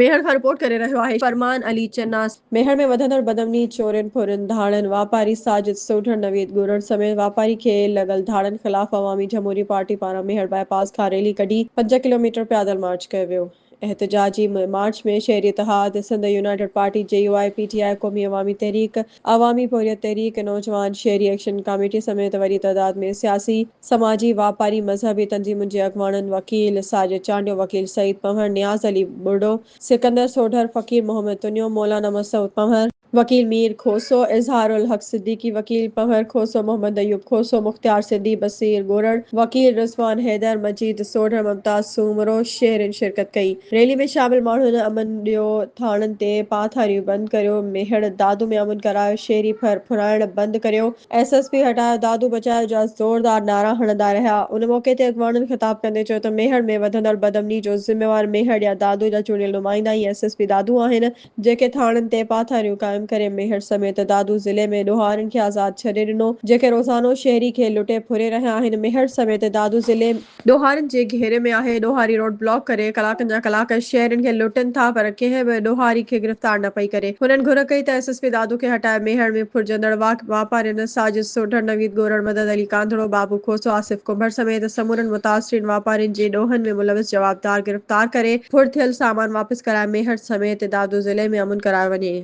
ميهڙ کان رپورٽ ڪري رهيو آهي فرمان علي چناس. ميهڙ ۾ وڌندڙ بدامني، چورين، ڦرين، ڌاڙن، واپاري ساجد سوڍڙ، نويد ڳورڙ سميت واپاري کي لڳل ڌاڙن خلاف عوامي جمهوري پارٽي پاران ميهڙ باء پاس کان ريلي ڪڍي پنج ڪلوميٽر پيادل مارچ ڪيو ويو. احتجاجي مارچ ۾ شهري اتحاد، Sindh united party, J U I, P T I, Qaumi Awami تحريڪ، عوامي پورهيت تحريڪ، نوجوان شهري ايڪشن ڪاميٽي سميت وڏي تعداد ۾ سياسي، سماجي، واپاري، مذهبي تنظيمن جي اڳواڻن، وڪيل ساجد چانڊيو، وڪيل سعيد پنهور، نياز علي ٻرڙو، سڪندر سوڍر، فقير محمد تنيو، مولانا مسعود پنهور، وڪيل مير کوسو، اظهار الحق صديقي، وڪيل پنهور کوسو، محمد ايوب کوسو، مختيار سنڌي، بصير ڳوڙهڙ، وڪيل رضوان حيدر، مجيد سوڍر، ممتاز سومرو، شهرين شرڪت ڪئي. ريلي ۾ شامل ماڻهن امن ڏيو، ٿاڻن تي پاٿاريون بند ڪريو، ميهڙ دادو ۾ امن ڪرايو، شيري ڦر ڦرائڻ بند ڪريو، ايس ايس پي هٽايو، دادو بچايو جا زوردار نعرا هڻندا رهيا. ان موقعي تي اڳواڻن خطاب ڪندي چيو ته ميهڙ ۾ وڌندڙ بدامني جو ذميوار ميهڙ يا دادو جا چونڊيل نمائندا ئي ايس ايس پي دادو آهن، جيڪي ٿاڻن تي پاٿاريون قائم ڪري ميهڙ سميت دادو ضلعي ۾ ڏوهارين کي آزاد ڇڏي ڏنو جيڪي روزانو شهري کي لٽي ڦري رهيا آهن ميهڙ سميت دادو ضلعي ڏوهارين جي گهيري ۾ آهي ڏوهاري روڊ بلاڪ ڪري ڪلاڪن جا ڪلاڪ شهرين کي لٽين ٿا پر ڪنهن به ڏوهاري کي گرفتار نه پئي ڪري هنن گهر ڪئي ته ايس ايس پي دادو کي هٽائي ميهڙ ۾ ڦرجندڙ واپارين ساجد سوڍڙ نويد ڳورڙ مدد علي ڪانڌڙو بابو کوسو آصف ڪنڀر سميت سمورن متاثرين واپارين جي ڏوهن ۾ ملوث جوابدار ڪار ڪري ڦڙ ٿيل سامان واپس ڪرائي ميهڙ سميت دادو ضلعي ۾ امن ڪرايو وڃي.